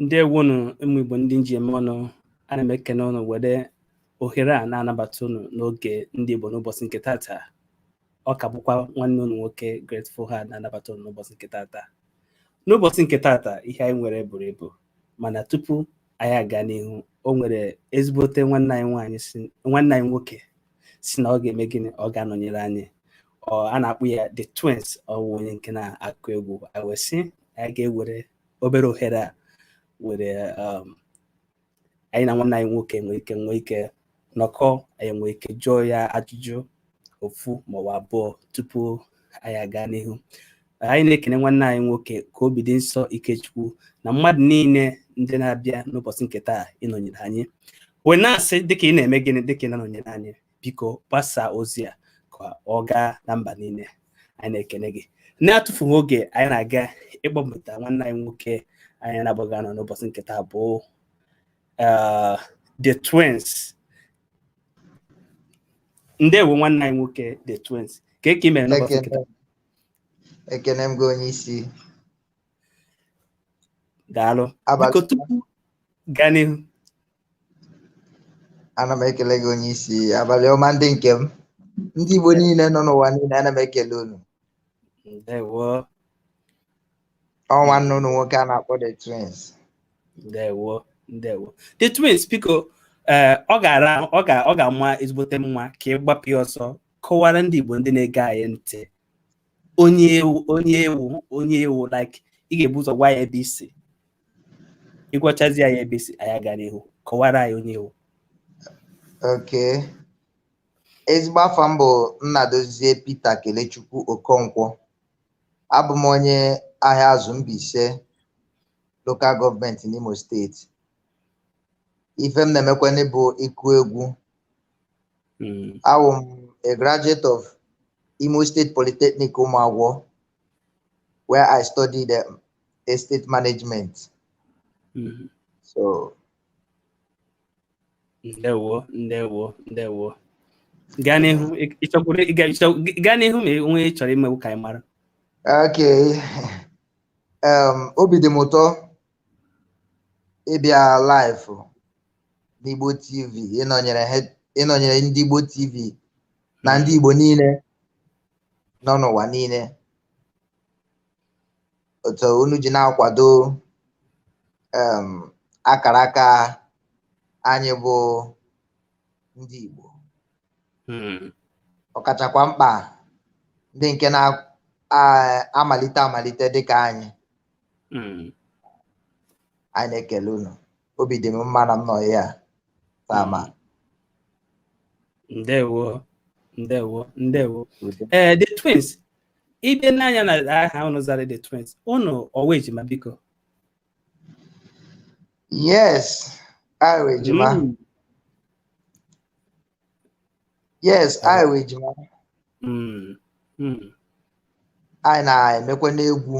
ndeewo nu ụmụ igbo ndị m ji eme ọnụ ana m ekene unu were ohere a na-anabata unu n'oge ndị igbo n'ụbọchị nke tata ọ ka bụkwa nwanne unu nwoke Grateful Heart na-anabata unu n'ụbọchị nke tata n'ụbọchị nke tata ihe anyị nwere buru ibu mana tupu anyị aga n'ihu o nwere ezigbote nwanne anyị nwaanyị nwanne anyị nwoke si na ọ ga-eme gịnị ọ ga-anọnyere anyị a na-akpọ ya the twins ọ wụ onye nke na-akụ egwu a wee sị anyị ga-ewere obere ohere a were um, anyị na nwanne anyị nwoke nwee ike nwee ike nọkọ anyị nwee ike jụọ ya ajụjụ ofu maọbụ abụọ tupu anyị aga n'ihu anyị na-ekene nwanne anyị nwoke ka obi dị nsọ ikechukwu na mmadụ niile ndị na-abịa n'ụbọchị nke taa ịnọnyere anyị wee na-asị dịka ị na-eme gịnị dịka ị na-anọnyere anyị biko gbasaa ozi a ka ọ gaa na mba niile anyị na-ekene gị na-atụfughị oge anyị na-aga ịkpọbata nwanne anyị nwoke anyị na ya ga-anọ n'ụbọchị nke taa bụ uh, the twins ndewo nwanne anyị nwoke the twins kee ke i mere n'ụbọchị nke taa ekene m gị onye isi daalụ Abalị- biko tupu gaa n'ihu ana m ekele gị onye isi abalị ọma ndị nke m ndị Igbo niile nọ n'ụwa niile ana m ekele unu ndewo ọ nwanne unu nwoke a na-akpọ the twins ndewo ndewo the twins biko ee ọ ga-ara ọ ga ọ ga-ama ezigbote mma ka ị gbapụ ya ọsọ kọwara ndị Igbo ndị na-ege anyị ntị onye ị wụ onye ị wụ onye ị wụ like ị ga-ebu ụzọ gwa anyị ebe i si ị gwachazi anyị ebe i si anyị aga n'ihu kọwara anyị onye ị wụ okay ezigbo afa m bụ Nnadozie Peter Kelechukwu Okonkwo abụ m onye Ahịazụ Mbaise lokal gọọmenti n'Imo steeti ife m na-emekwanị bụ ịkụ egwu hmm. awụ m a graduate of Imo State Polytechnic Ụmụagwọ where I studied um, estate management. Mm -hmm. So. Ndewo, ndewo, ndewo. Gaa n'ihu, ị chọọ kwuru gaa n'ihu ma o nwee ị chọrọ imekwu ka anyị mara. Okay. Um, obi dị m ụtọ ịbịa live n'Igbo TV ịnọnyere ndị Igbo TV na ndị Igbo niile nọ n'ụwa niile otu unu ji na-akwado em, akara aka anyị bụ ndị Igbo Hmm. ọkachakwa mkpa ndị nke na-amalite amalite dịka anyị Hmm. anyị na-ekele unu obi dị m mma na m nọ ya taa ma ndewo ndewo ndewo ee eh, the twins ị bịa nee anya na aha unu zara the twins unu ọ wụ ejima biko yes anyị wụ ejima hmm. yes anyị wụ ejima hmm. hmm. anyị na-emekwanụ egwu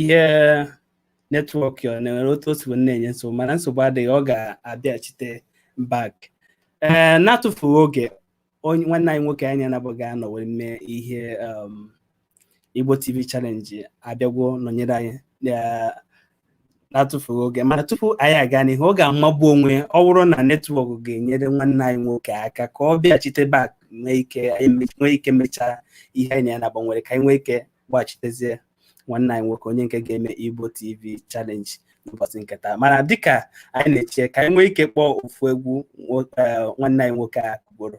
ihe netwọk ya o nwere otu o si na-enye nsogbu mana nsogbu adịghị ọ ga-abịachite back ee eh, na-atụfughị oge onye nwanne anyị nwoke anyị na ya naabọ ga-anọ wee mee ihe um, Igbo TV challenge abịagwo nọnyere anyị na-atụfughị oge mana tupu anyị aga n'ihu ọ ga-amagbu onwe ọ bụrụ na netwọk ga-enyere nwanne anyị nwoke aka ka ọ bịachite back nwee ike mechaa ihe anyị na ya naabọ nwere ka anyị nwee ike gbachitezie nwanne anyị nwoke onye nke ga-eme Igbo TV challenge n'ụbọchị nke taa mana dịka anyị na-eche ka anyị nwee ike kpọọ ofu egwu eh, nwanne anyị nwoke a kụgboro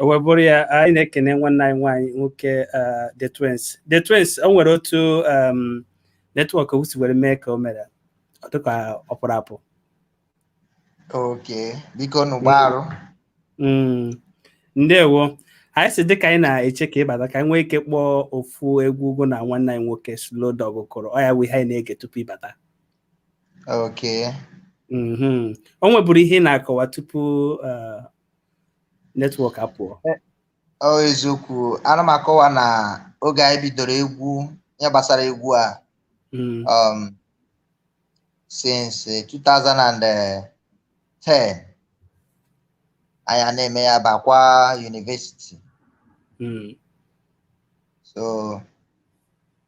wee bụrụ ya anyị na-ekene nwanne anyị nwaanyị nwoke the twins the twins o nwere otu netwọk o si were mee ka o mere ọ dịka ọ pụrụ apụ okay biko nụ gbaarụ ndewo anyị si dịka anyị na-eche ka ị bata ka anyị nwee ike kpọọ ofu egwu gụ na nwanne anyị nwoke Slow Dog kụrụ ọ ya bụ ihe anyị na-ege tupu ị bata okay o nweburu ihe ị na-akọwa tupu netwọk apụọ ọ eziokwu ana m akọwa na oge anyị bidoro egwu ihe gbasara egwu a Mm, um, since eh, 2010 anyị a na-eme ya bakwa university mm, so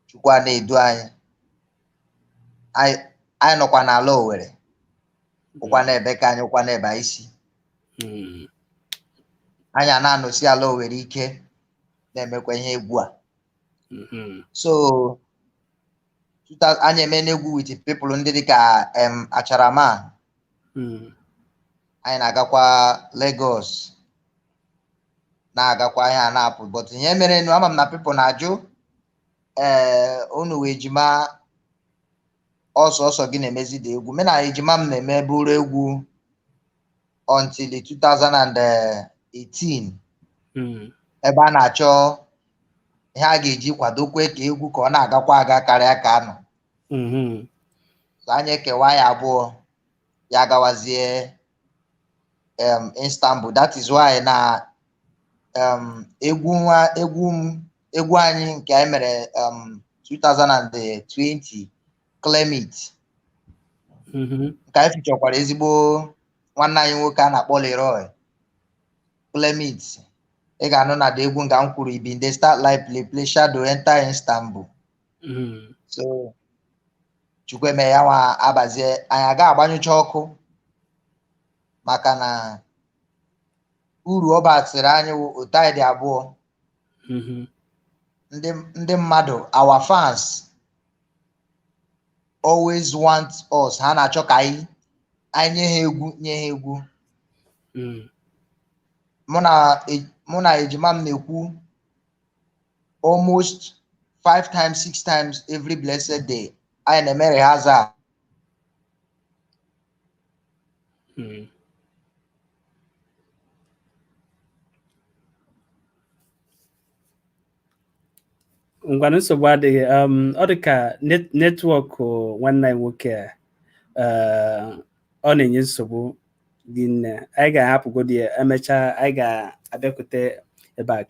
chukwu a na-edu anyị anyị anyị nọkwa n'ala Owerri wụkwanụ ebe ka anyị wụkwanụ ebe anyị si Mm. anyị a na-anọsi ala Owerri ike na-emekwa ihe egwu a Mhm. so tuta- anyị emeena egwu with people ndị dịka em Acharaman Mm. anyị na-agakwa Lagos na-agakwa ihe a na-apụ but ihe merenụ ama m na people na-ajụ ee unu wụ ejima ọ sọọsọ gị na-emezi the egwu mụ na ejima m na-emeburu egwu until 2018 Mm. ebe a na-achọ ihe a ga-eji kwadokwue ka egwu ka ọ na-agakwa aga karịa ka a nọ Mhm. so anyị ekewa ya abụọ ya gawazie em, Istanbul that is why na um, egwu nwa egwu m egwu anyị nke anyị mere um, 2020 Claim It Mhm. nke anyị featurekwara ezigbo nwanne anyị nwoke a na-akpọ Leroy Claim It ị ga-anụ na the egwu nga m kwuru ibi ndị start live play play shadow enter Istanbul Mhm. so Chukwu mee ya nwa abazie anyị aga agbanyụcha ọkụ maka na uru ọ basịrị anyị wụ otu anyị dị abụọ Mhm. ndị ndị mmadụ our fans always want us ha na-achọ ka anyị anyị nye ha egwu nye ha egwu Mm. mụ na e- mụ na ejima m na-ekwu almost five times six times every blessed day anyị na-eme rehearsal Hmm. ngwanụ nsogbu adịghị um, ọ dị ka netwọk nwanne anyị nwoke a uh, ọ na-enye nsogbu dị nne anyị ga-ahapụgodi ya emechaa anyị ga-abịakwute ya back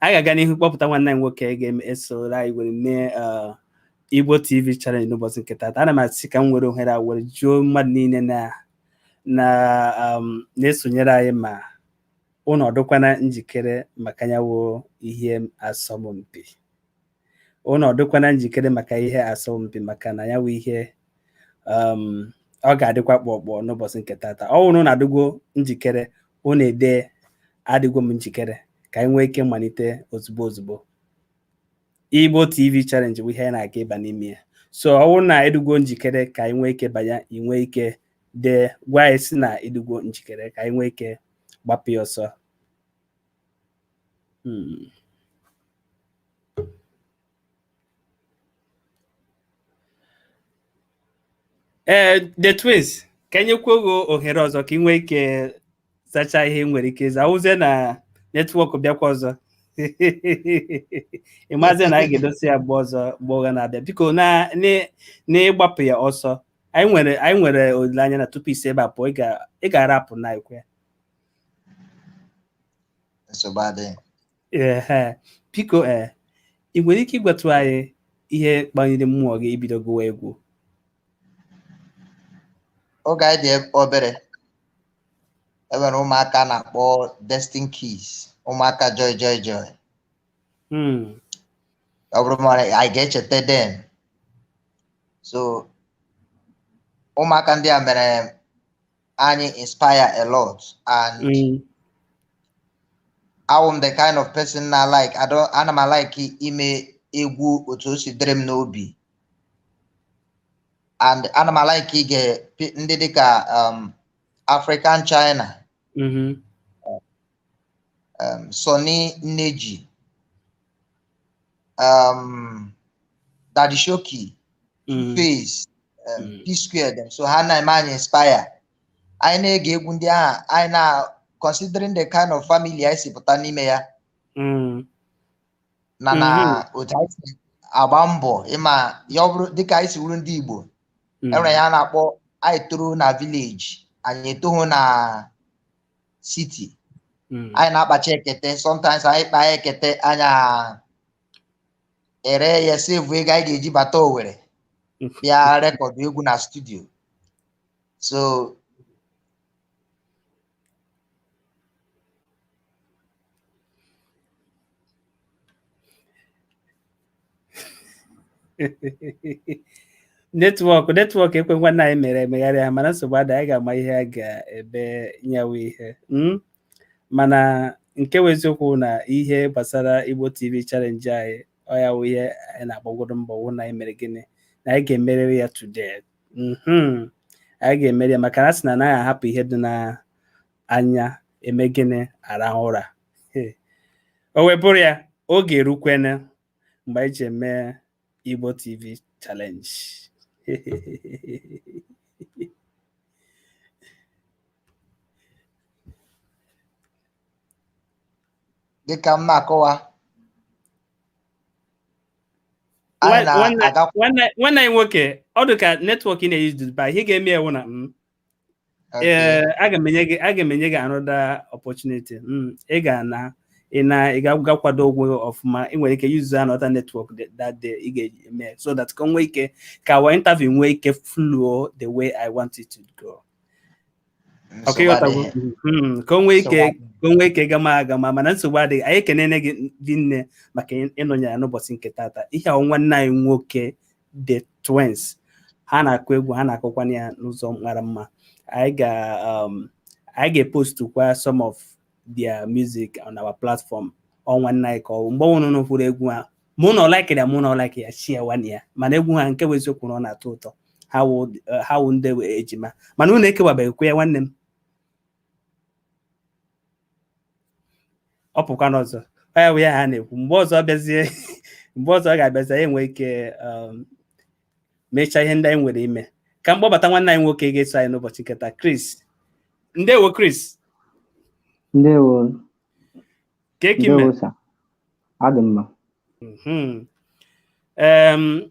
anyị ga-aga n'ihu kpọpụta nwanne anyị nwoke ga-esola anyị were mee uh, Igbo TV challenge n'ụbọchị nke taata ana m asị ka m were ohere a were jụọ mmadụ niile na na um, na-esonyere anyị ma ụnụ ọ dụkwana njikere maka nya wụ ihe asọmpi ụnụ ọ dụkwana njikere maka ihe asọmpi maka na nya wụ ihe um, ọ ga-adịkwa kpọkpọ n'ụbọchị nke taata ọ wụrụ na a dịgwo njikere ụnụ edee adịgwo m njikere ka anyị nwee ike malite ozugbo ozugbo Igbo TV challenge bụ ihe anyị na-aga ịba n'ime ya so ọ bụrụ na ị dịgo njikere ka anyị nwee ike banye i nwee ike dee gwa anyị sị na ị dịgo njikere ka anyị nwee ike gbapụ ya ọsọ hmm. ee eh, the twins ka e nyekwuo gị ohere ọzọ ka ị nwee ike zachaa ihe ị nwere ike ịza awụzie na netwọk bịakwa ọzọ ị mazi na anyị ga-edosi ya mgbe ọzọ mgbe ị ga na-abịa biko n'ịgbapụ ya ọsọ anyị nwere anyị nwere olileanya na tupu i si ebe a pụọ ị ga-arapụ na ekwe ee biko ee ị nwere ike ịgwatụ anyị ihe kpaliri mmụọ gị ibido gụwa egwu oge anyị dị obere enwere ụmụaka na-akpọ Destined Kids ụmụaka joy joy joy hmm. ọ bụrụ ma ị ga-echeta then so ụmụaka ndị a mere anyị inspire a lot and hmm. awụ m the kind of person na like ana m like ime egwu otu o si dịrị m n'obi and ana m alaiki ige pi- ndị dịka um, African China Mhm. um, Sunny Neji um, Daddy Showkey Mhm. 2Face um, Mm. P Square dem so ha na-eme anyị inspire anyị na-ege egwu ndị ahụ anyị na considering the kind of family anyị si pụta n'ime ya Mm. na na mm-hmm. otu anyị si agba mbọ ịma ya ọ bụrụ dịka anyị si wụrụ ndị Igbo mm. enwere ihe a na-akpọ anyị toro na village anyị etoghị na city mm. anyị na-akpacha ekete sometimes anyị kpaa ekete anyị eree ya save ego anyị ga-eji bata Owerri bịa record egwu na studio so netwọk netwọk ekwe nwanne anyị mere emegharịa mana nsogbu adịghị anyị ga-ama ihe a ga-ebe nyawa ihe hmm? mana nke bụ eziokwu na ihe gbasara Igbo TV challenge anyị ọ ya wụ ihe anyị na-agbagodu mbọ wụ na anyị mere gịnị na anyị ga-emeriri ya today mhm. anyị ga-emeri ya maka na a sị na anaghị ahapụ ihe dị n'anya eme gịnị arahụ ụra o wee bụrụ ya oge erukwene mgbe anyị ji eme Igbo TV challenge dịka m na-akọwa nwanne anyị nwoke ọ dị ka netwọk ị na-use dị bad ihe ga-eme wụ na m mm, eh, aga m enye gị aga m enye gị another opportunity mm, ị ga-ana ị naa ị ga-akwado ogwe gị ọfụma ị nwere ike use another netwọk that day ị ga-eme so that ka nwee ike ka our interview nwee ike flow the way I want it to go ọkụ ịghọta hmm, ka o nwee ike ka o nwee ike gama agama mana nsogbu adịghị anyị ekenene gị rinne maka ịnọnyere anyị n'ụbọchị nke tata ihe a wụ nwanne anyị nwoke the twins ha na-akụ egwu ha na-akụkwana ya n'ụzọ mara mma anyị ga um, anyị ga-epostu kwa some of their music on our platform ọ nwanne anyị ka ọ mgbe unu hụrụ ụfọdụ egwu ha mụ na like ya mụ na like ya share kwanụ ya mana egwu ha nke wụ eziokwu na ọ na-atọ ụtọ ha wụ eh, ha wụ ndị ejima mana unu ekewabeghịkwa ya nwanne m ọ pụkwana ọzọ ọ ya bụ ihe a na-ekwu mgbe ọzọ ọ bịazie mgbe ọzọ ọ ga-abịazi anyị enwee ike um, mechaa ihe ndị anyị nwere ime ka m kpọbata nwanne anyị nwoke ga-eso anyị n'ụbọchị nke taa Chris ndewo Chris Ndewo. kee ka i me Ndewo sa. Adị m mma. Mhm. Em,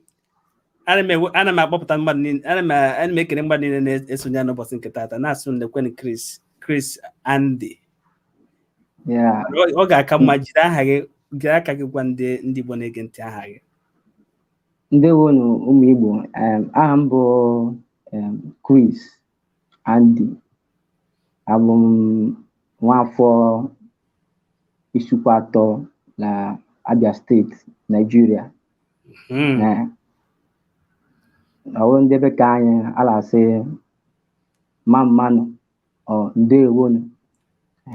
ana m ewe- ana m akpọpụta mmadụ niile ana m ana m ekele mmadụ niile na-esonye anyị n'ụbọchị nke taata na-asị nekwenụ Chris Chris Andy Yeah. ọ ọ ga-aka mma jiri aha gị jiri aka gị gwa ndị ndị Igbo na-ege ntị aha gị Ndewonu ụmụ Igbo. Em, aha m bụ em, Chris Andy abụ m nwaafọ Isuikwuatọ na Abia steeti Naijiria Hmm. ọ wụ ndị be ka anyị a na-asị mma mma nụ o ndewonu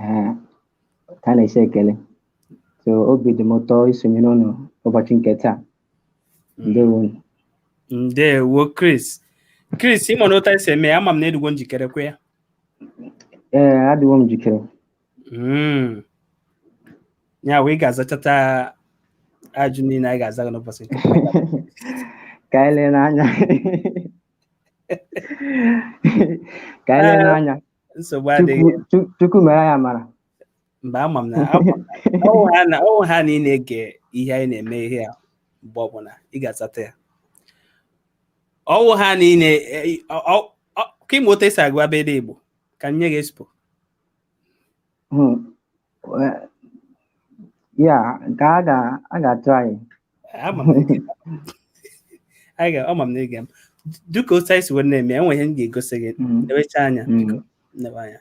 ee ka a na-esi ekele so obi dị m ụtọ isonyere unu ụbọchị nke taa ndewo ndewo Chris Chris ị mana otu anyị si eme ya ama m na ị dịgwo njikere kwa ya ee adịwo m njikere Mm. ya wụ ị ga-azachata ajụjụ niile anyị ga-aza gị n'ụbọchị nke ka anyị lee n'anya ka anyị lee n'anya nsogbu adịghị Chukwu- Chu- chukwu mere anyị amara mba ama m na ọ wụhana ị na-ege ihe anyị na-eme ihe a mgbe ọbụla ị ga-azata ya ọ wụhana ị ka ma otu esi agụ abịdị Igbo ka m nye gị expo hmm. ya nke a ga-atụ anyị ama m na ịga m dịka otu anyị si wee na-eme e nwe ihe m ga-egosi gị hmm. newecha anya hmm. newe anya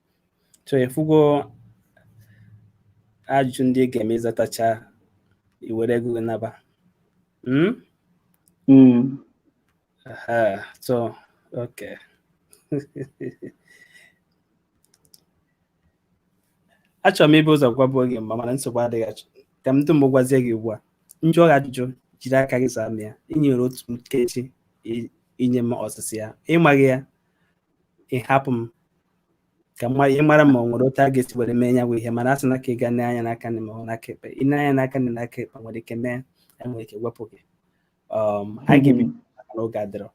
so ịfụgo ajụjụ ndị ị ga-eme ịzatacha iwere ego gị naba hmm? Hmm. so okay achọrọ m ibu ụzọ gwabụọ gị mma mana nsogbu adịghị achọ ka m dum gwazie gị ugbu a m jụọ gị ajụjụ jiri aka gị zaa m ya i nwere otu nkeji inye m ọsịsa ya ịmaghị ya ịhapụ m ka ị mara ma o nwere otu a ga-esi were mee ya bụ ihe mana a sị na ka ị ga-ene anya n'aka nni ma ọ n'aka ekpe i nee anya n'aka nni n'aka ekpe nwere ike mee anyị nwere ike wepụ gị um, anyị ga-ebido maka na oge adịrọ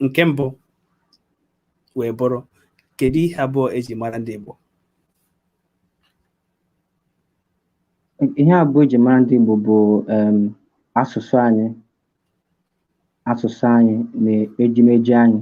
nke mbụ wee bụrụ kedu ihe abụọ eji mara ndị Igbo ihe abụọ eji mara ndị Igbo bụ um, asụsụ anyị asụsụ anyị na ejimeji anyị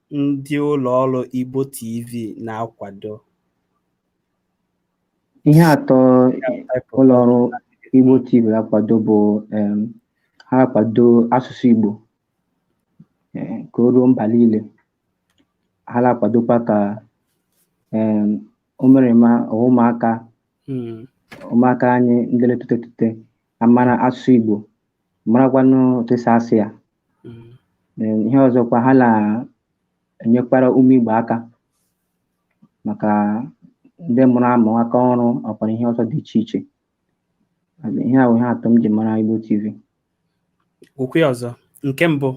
ndị ụlọ ọrụ Igbo TV na-akwado. Ihe atọ ụlọ ọrụ Igbo TV na-akwado bụ um, ha na-akwado asụsụ Igbo um, ka o ruo mba niile. Ha na-akwadokwa ka um, ụmụrịma ụmụaka hmm. ụmụaka anyị ndị na-etolite ka ha mara asụsụ Igbo marakwanụ otu esi asụ ya Mm. Ee, ihe ọzọkwa ha na-enyekwara ụmụ Igbo aka maka ndị mụrụ amụ aka ọrụ ọkwara ihe ọzọ dị iche iche ihe a wụ ihe atọ m ji mara Igbo TV Kwuo ya ọzọ. Nke mbụ.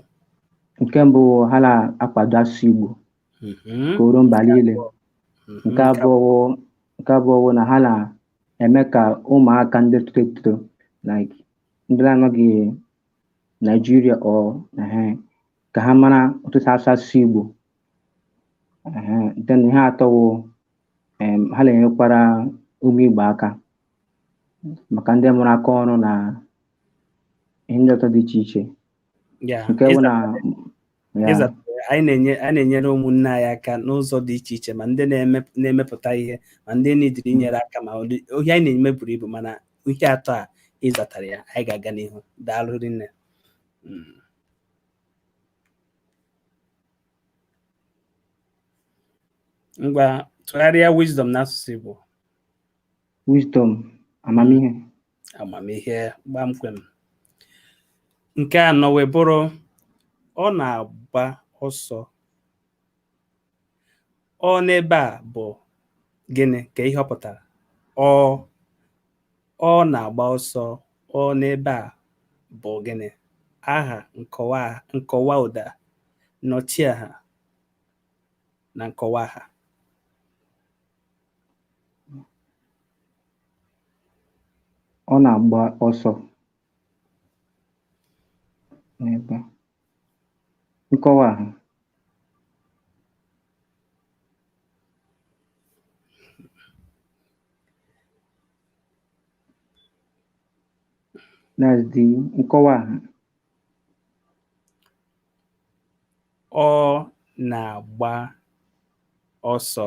nke mbụ ha na-akwado asụsụ Igbo Mhm. ka o ruo mba niile Mhm. nke abụọ wụ- nke abụọ wụ na ha na-eme ka ụmụaka ndị toro eto like ndị na-anọghị Naijiria ọ ehe, ka ha mara otu esi asụ asụsụ Igbo Ehe, then ihe atọ wụ em, ha na-enyekwara ụmụ Igbo aka maka ndị mụrụ aka ọrụ na ihe ndị ọzọ dị iche iche Yeah. nke bụ na anyị na-enyere ụmụnne anyị aka n'ụzọ dị iche iche ma ndị na-emepụta ihe ma ndị needịrị inyere aka ma ihe anyị na-eme buru ibu mana ihe atọ a ịzatara ya anyị ga-aga n'ihu daalụ rinne hmm. ngwa tụgharịa wisdom n'asụsụ Igbo wisdom amamihe amamihe gbamkwem nke anọ wee bụrụ ọ na-agba ọsọ ọ n'ebe a bụ gịnị kee ihe ọ pụtara ọ ọ na-agba ọsọ ọ n'ebe a bụ gịnị aha nkọwa nkọwa ụda nnọchiaha na nkọwa aha ọ na-agba ọsọ n'ebe a. nkọwa aha that's the nkọwa aha ọ na-agba ọsọ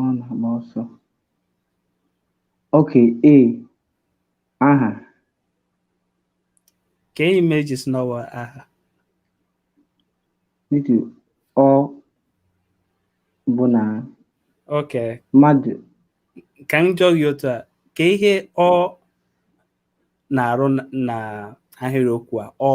Ọ na-agba ọsọ. Okay, A. Aha. Kee ihe mere i ji sị n'ọ wụ aha. N'ihi ọ bụ na Okay. mmadụ Ka m jụọ gị otu a, kee ihe ọ na-arụ na- na ahịrịokwu a ọ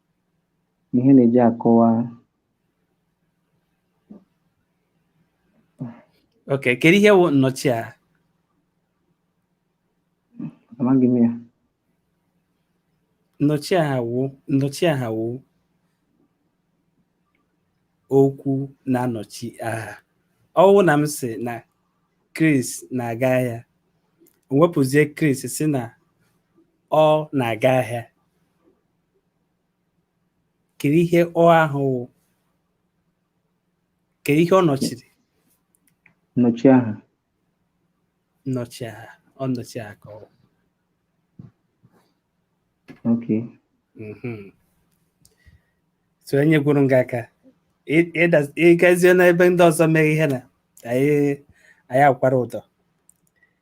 ihe na-eji akọwa ok kedu ihe wụ nnọchi aha amaghị m ya nnọchi aha wụ nnọchi aha wụ okwu na-anọchi aha ọ wụ na m sị na Chris na-aga ahịa m wepụzie Chris sị na ọ na-aga ahịa kedu ihe ọ ahụ wụ kedu ihe ọ nọchiri nnọchi aha nnọchi aha ọ nnọchi aha ka ọ wụ. okay Mhm. so enyegoro m gị aka Ị- ịda- ịgazie n'ebe ndị ọzọ mere ihe na anyị anyị akwara ụdọ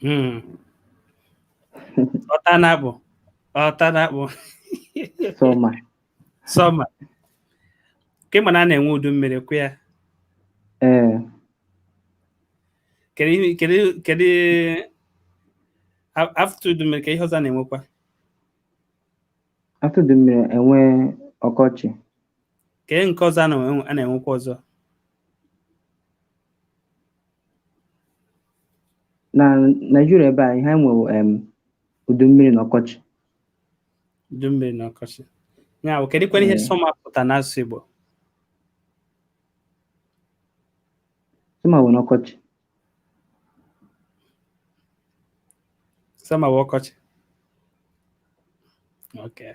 Hmm. Ọta na-akpụ. Ọta na-akpụ. Sọma. Sọma. Ka ị ma na a na-enwe udu mmiri kwa ya. Ee. Kedu ihe- kedu kedu a- after udu mmiri kee ihe ọzọ a na-enwekwa? After udu mmiri e nwee ọkọchị. Kee nke ọzọ a na-enwe- a na-enwekwa ọzọ? na Naịjirịa ebe a ihe anyị nwe wụ em udu mmiri na ọkọchị udu mmiri na ọkọchị ya wụ kedụkwanụ ihe Ee. summer pụta n'asụsụ Igbo summer wụ na ọkọchị summer wụ ọkọchị okay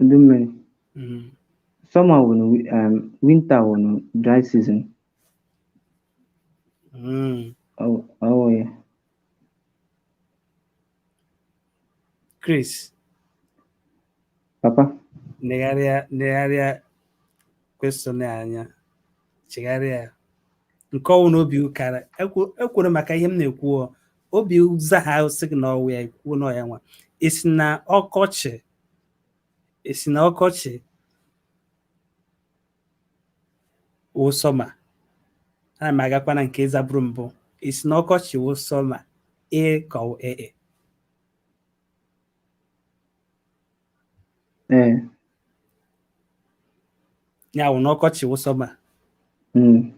udu mmiri Mm. summer wụ na wi- um, winter wụ na dry season Mm. ọ ọ wụ ya Chris papa negharịa negharịa question a anya chegharịa ya nke ọwụna obi kara ekwere maka ihe m na-ekwu obi ụza ha sị gị na ọ wụ ya i kwuo na ya nwa i si na ọkọchị i si na ọkọchị wụ summer ana m agakwa na nke ị zaburu mbụ i si na ọkọchị wụ summer e ka ọ ee e. ee ya wụ na ọkọchị wụ summer mm,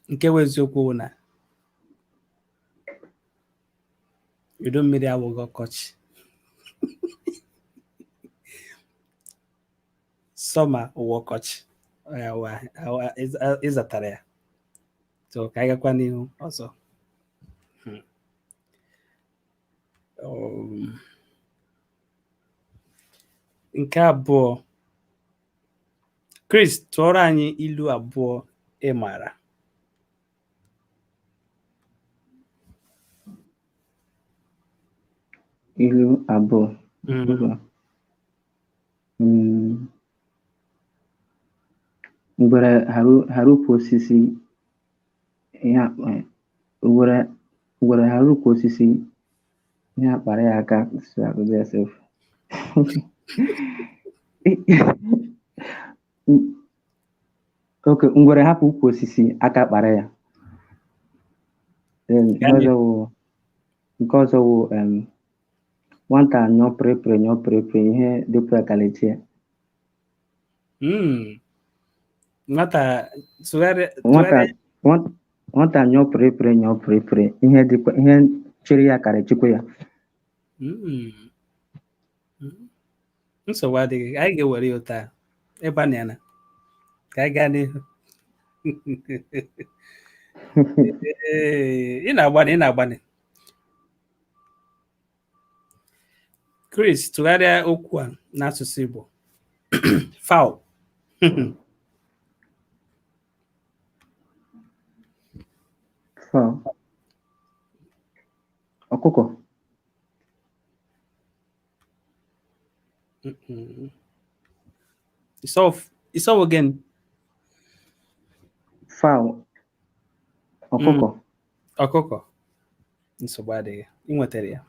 nke wụ eziokwu wụ na udu mmiri awụghị ọkọchị summer wụ ọkọchị Ọ ya wụ ahụ- ahụ- ahụ- ị za- ị zatara ya so ka anyị gakwa n'ihu ọzọ Hmm. um, nke abụọ Chris tụọrọ anyị ilu abụọ ị maara ilu abụọ mm. Mm. ngwere hara ukwu osisi ihe akpa ya ngwere ngwere hara ukwu osisi ihe akpara ya aka si akụzi ya sef okay ngwere hapụ ukwu osisi aka akpara ya Then nke Gani. ọzọ wụ nke ọzọ wụ em, nwata nyụọ pịrịpịrị nyụọ pịrịpịrị ihe dịpụ ya kalechi ya Mm. Nwata sụgharịa nwata sụgharịa nwata- nwata nyụọ pịrịpịrị nyụọ pịrịpịrị ihe dịkwa ihe chịrị ya karị chịkwa ya Mm. Mm. nsogbu adịghị anyị ga-ewere ya otu a ị gbanịana ka anyị gaa n'ihu Ee, ị na-agbanị ị na-agbanị Chris tụgharịa okwu a n'asụsụ Igbo fowl fowl ọkụkọ It's all again. Fowl. Ọkụkọ. Mm. ọkụkọ nsogbu adịghị ị nwetara ya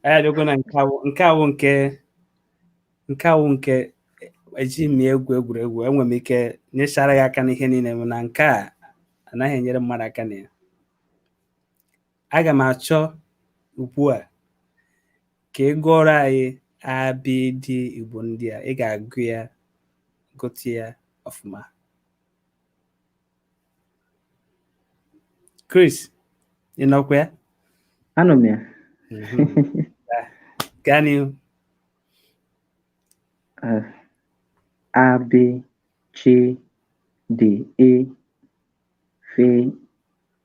anyị abịago na nke a wụ nke a wụ nke nke a wụ nke eji m ya egwu egwuregwu enwere m ike nyechara gị aka n'ihe niile mana nke a anaghị enyere mmadụ aka na ya aga m achọ ugbu a ka ị gụọrọ anyị ABD igbo ndị a ị ga-agụ ya gụta ya ọfụma Chris ị nọkwa ya anọ m ya mhm. gaa n'ihu eh, abị chi dị e fe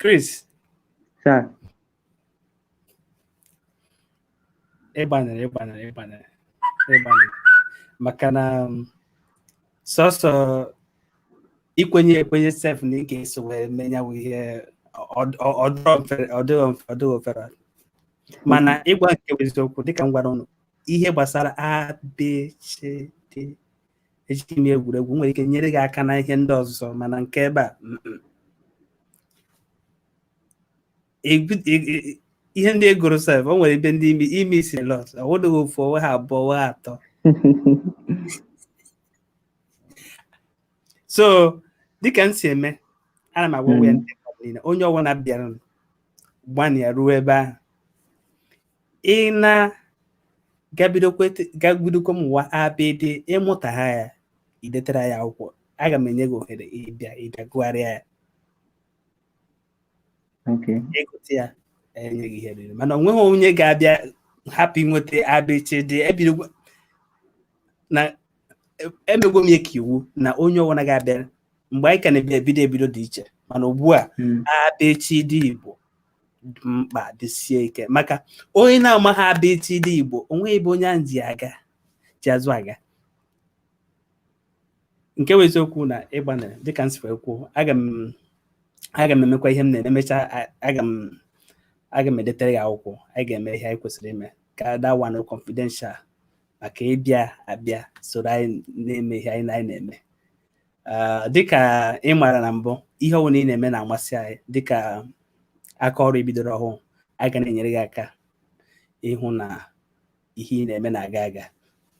Chris sir ị gbanịrị ị gbanịrị ị gbanịrị ị gbanịrị maka na um, sọsọ ikwenye ekwenye sef na ị ga-eso wee mee nya wụ ihe ọ dịghị ofere mana ịgwa nke bụ eziokwu dịka m gwara ụnụ ihe gbasara abcd ejighị m egwuregwu nwere ike nyere gị aka na ihe ndị ọzọ mana nke ebe a ihe ndị ị gụrụ sef o nwere ebe ndị imi imi si lọt ọ wụdịghị ofu ọ wụghị abụọ ọ wụghị atọ so dịka m si eme ana m agwa ya hmm. ndị mmadụ niile onye ọbụla bịara gbanịa ruo ebe ahụ ị naa ga bidokwa mụwa abịdị ị mụtaha ya i detara anyị akwụkwọ aga m enye gị ohere ịbịa ịbịa gụgharịa ya ị gụta ya e nye gị ihe riri mana o nweghị onye ga-abịa hapụ inweta abịchị dị ebido na emegwo m ya ka iwu na onye ọbụla ga-abịa mgbe anyị ka na-ebido ebido dị iche mana ugbu a hmm. abịchị dị igbo mkpa jisie ike maka onye na-amaghị abịchịdị Igbo onweghị ebe onye ahụ ji aga ji azụ aga nke bụ eziokwu na ịgbanịrị dịka m si wee kwuo aga m aga m emekwa ihe m na-eme mechaa aga m aga m edetere gị akwụkwọ anyị ga-eme ihe anyị kwesịrị ime ka that one confidential maka ịbịa abịa soro anyị na-eme ihe anyị na-eme dịka ị maara na mbụ ihe ọbụla ị na-eme na-amasị anyị dịka aka ọrụ ibidoro ọhụụ anyị ga na-enyere gị aka ịhụ na ihe ị na-eme na-aga aga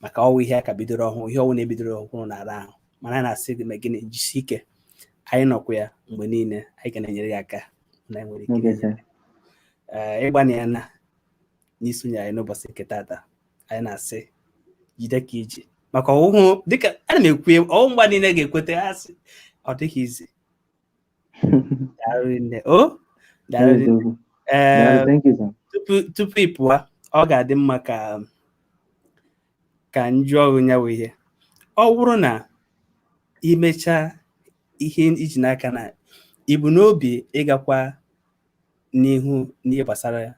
maka ọwụ ihe a ka bidoro ọhụụ ihe ọwụna ebidoro ọhụrụ na-ara ahụ mana anyị na-asị gị na gị na-ejisi ike anyị nọkwa ya mgbe niile anyị ga na-enyere gị aka na enwere ike ịgbanịana n'isonye anyị n'ụbọchị nke tata anyị na-asị jide ka iji maka ọwụhụ dịka ana m ekwu ọwụhụ mgba niile ga-ekweta ha sị ọ dịghị easy tupu ị pụọ ọ ga-adị mma ka ka m jụọ gị ya wụ ihe ọ bụrụ na imechaa ihe iji n'aka na ibu n'obi ịgakwa n'ihu n'ihe gbasara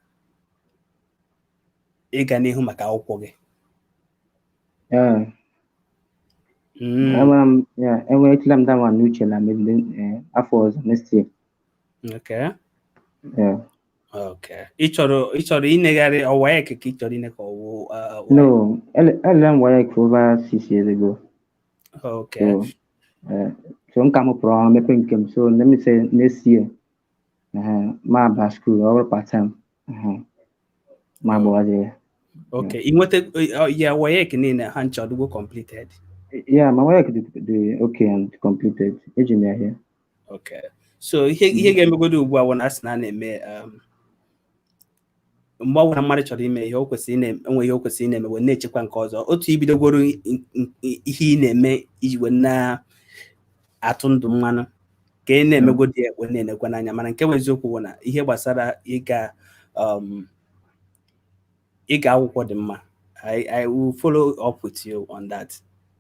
ịga n'ihu maka akwụkwọ gị Yeah. Mm, Enwere m yeah, enwechala m that one n'uche na maybe eh, afọ ọzọ next year. okay Yeah. okay ị chọrọ ị chọrọ inegharị WAEC ka ị chọrọ ine ka ọwụ uh, wa- No, ele- ele m WAEC for over six years ago. okay So, eh, so nka m pụrụ ọrụ mepe nke m so let me say next year ma aba school ọ bụrụ part time ma agbawazie ya Okay, ị nwetara WAEC niile ha ncha ọ dịgo completed. Yeah, my WAEC dị okay and completed eji m ya here Okay. So ihe ihe ga-emegodo ugbu a wụ na asị na a na-eme um, mgbe ọbụla mmadụ chọrọ ime ihe o kwesịrị na-enwe ihe o kwesịrị ị na-eme wee na-echekwa nke ọzọ otu ibidogoro i- i- i- ihe ị na-eme iji wee na-atụ ndụ mmanụ ka ị na-emegodi ya wee na-enekwa n'anya mana nke bụ eziokwu bụ na ihe gbasara ịga um, ịga akwụkwọ dị mma I, I will follow up with you on that.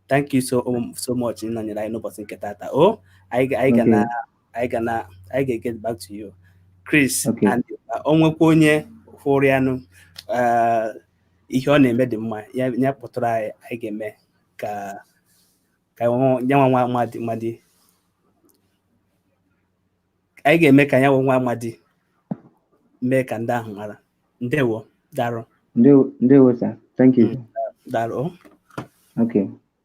Thank you so, um, so much. Ịnọnyere anyị n'ụbọchị nke tata. O, anyị ga- anyị ga Okay. na anyị ga na anyị ga-get back to you Chris Okay. and o nwekwa onye hụrụ ya na eh, ihe ọ na-eme dị mma ya ya kpọtụrụ anyị anyị ga-eme ka ka nwa- ya nwa nwa amadi amadi anyị ga-eme ka ya nwa nwa amadi mee ka ndị ahụ mara ndewo daarụ Ndewo, ndewo, sir. Thank you. daarụ okay.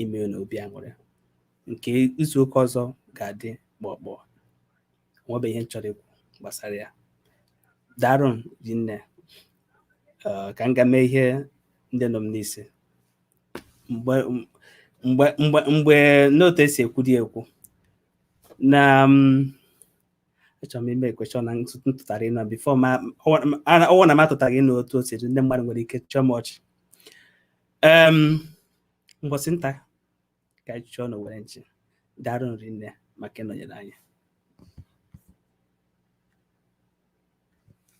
ime unu obi aṅụrị nke izu ụka ọzọ ga-adị kpọkpọ nwebe ihe m chọrọ ikwu gbasara ya daalụnụ rinne ka m ga mee ihe ndị nọ m n'isi mgbe n'otu e si ekwu dị ekwu na achọrọ m imekwa sure na m tụtara inu before ọ wụ na m atụtaghị inu otu o siri ndị mmadụ nwere ike chịa m ọchị um mbọsị nta ka anyị chụọ n'owere nchi daalụnụ rinne maka ịnọnyere anyị